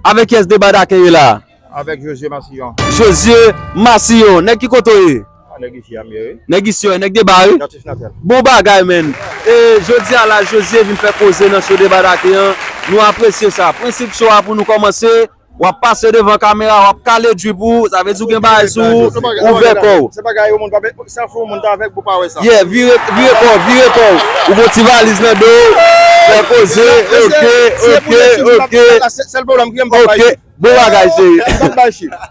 Avèk yes deba dakè ye la. Avèk Josué Massillon. Josué Massillon nèg ki kote w ye? Ah nèg isi a m ye wi. Nèg isi a, nèg deba wi. Natif natal. Bon bagay man. E jodi a la Josué vin fè koze nan show deba dakè an. Nou apresye sa. Prensip show a pou nou kòmanse, w ap pase devan kamera w ap kale drip ou, sa vle di w gen bagay sou ou, ouvè kò w. Se bagay yo moun pa. Sa fou moun ta avèg pou pa wè sa. Yeah vire vire kòw vire kòw ou gon ti valiz nan do w fè koze ok ok ok ok bon bagay cheri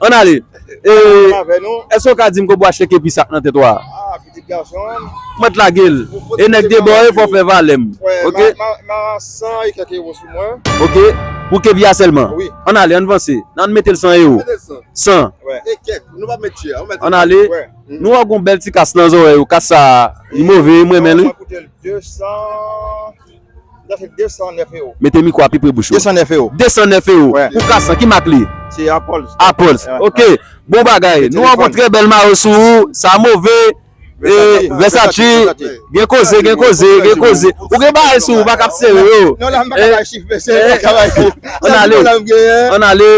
ann ale èske w ka di m kob w achte kepi sak nan tèt w a mwen t lage l e nèg de bò e fò w fè valè m ok ok pou kepi a sèlman ann ale ann vanse nan ann mete l 100 ewo 100 ann ale. Nou wè gon bèl ti kas nan zòrèy ou, kas sa li move, m renmen li. Mete mikwo a pi pre bouch ou. 209 ewo. 209 ewo pou kas lan, ki mak li? Se Apolz. Apolz, ok. Bon bagay. Nou wè gon trè bèl mayo sou ou, sa move, vèsachi, gen koze, gen koze, gen koze. Ou gen bagay sou ou, ou pa kab sere yo. Non la m pa ka bay chif mesye, m pa ka bay chif. An ale, an ale,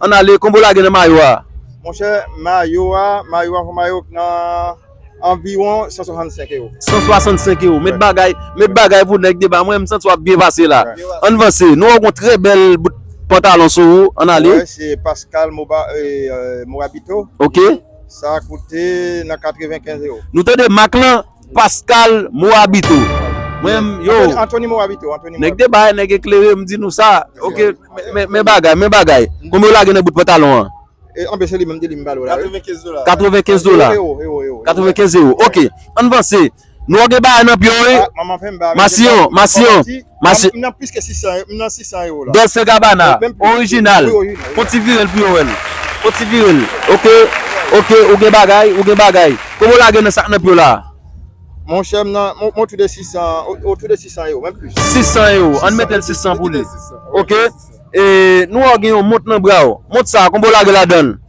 an ale, konbo lage nan mayo a. Monchè mayo a mayo a mayo k nan anviwon 165 ewo. 165 ewo met bagay met bagay pou nèg deba mwen m santi wap byen pase la ann vanse nou wè w gon trè bèl bout pantalon sou ou ann ale. Mwen wè se Pascal Morabito ok sa koute nan 95 ewo. Nou tande mak lan? Pascal Moabito Mwen menm yo Anthony Moabito Nèg deba nèg eklere m di nou sa ok Men bagay men bagay Konbyen w lage nan bout pantalon an Anbe se li menm ki di m bal ou la wi 95 dola 95 dola 95 ewo ok Ann vanse Nou wè w gen bagay nan pye w wi Masiyon Masiyon Mache. M nan plis ke 600 euro, m nan 600 euro la. Dolce Gabbana, orijinal. Fon ti vire l pou yo wè l. Fon ti vire l. Ok, ok, ou gen bagay, ou gen bagay. Konbyen w lage nan sa k nan pye w la a? Mon chè, m nan, m otou de 600, otou de 600 euro, menm plis. 600 euro, an n mete l 600 pou li. Ok, e nou wè w gen yon mont nan bra w. Mont sa a, konbyen w lage ladan l?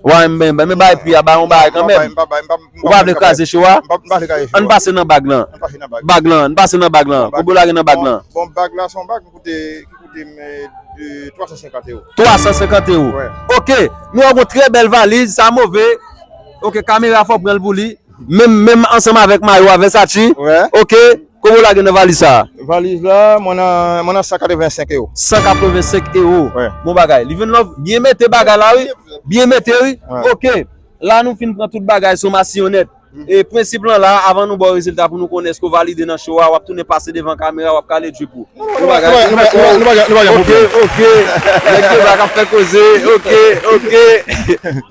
Waww m byn byn bay pu a ba yon bagay kanmenm ou pa vle kraze show a ann pase nan bag lan bag lan ann pase nan bag lan pou bolo ale nan bag lan 350 ero 350 ero ok nou wè gon trè bèl valiz sa move ok kamera fò pranl pou li. Menm menm ansanm avèk mayo a 20 sati ok kòman ou lage nan valiz sa. Valiz la mwen nan 185 ewo. 185 ewo bon bagay live and love byen mete bagay la wi byen mete wi ok la nou fin pran tout bagay somasyon nèt e prensip lan la avan nou baw rezilta pou nou konnen èske ou valide nan show a wap tounen pase devan kamera wap kale drip ou bon bagay nou pa gen pwoblèm ok ok nèg Quebec ap fè koze ok ok.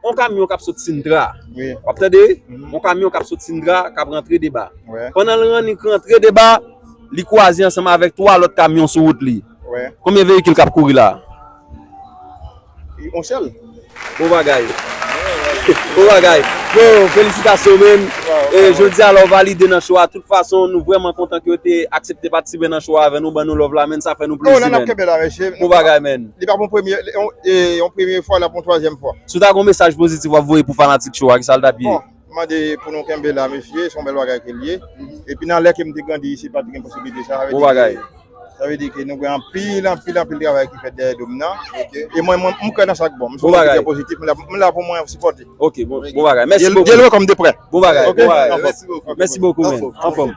On kamyon kap sot sintra Wap tande On kamyon kap sot sintra Kap rantre deba Pandan l rannik rantre deba Li kwaze ansanm avèk 3 lòt kamyon sou wout li Konbyen veyikil kap kouri la On sèl Bon bagay Bon bagay Bon felisitasyon men Jodi a la w valide nan cho a Tout fason nou vrèman kontan ke w te aksepte patisipe nan cho a avè nou Ban nou love la men sa fè nou plezi men Bon bagay men Li pa pou yon premye fwa, l ap pou yon twazyèm fwa. Si w ta gen yon mesaj pozitif w ap voye pou fanatik cho a, ki sa l t ap ye? Bon, m mande pou nou kenbe la mesye, se yon bèl bagay ke l ye. Epi nan lè ke m te grandi isi pa t gen posiblite sa. Bon bagay. Sa vle di ke nou gen anpil, anpil, anpil travay ki fèt dèyè do m nan. Ok. E mwen, m kwè nan sa k bon. M se yon moun ki trè pozitif. M la pou mwen sipòte. Ok, bon bagay. Mèsi bokou. Gen l wè kòm de prè. Bon bagay, bon bagay. Mèsi bokou. Mèsi bokou men. Anfòm.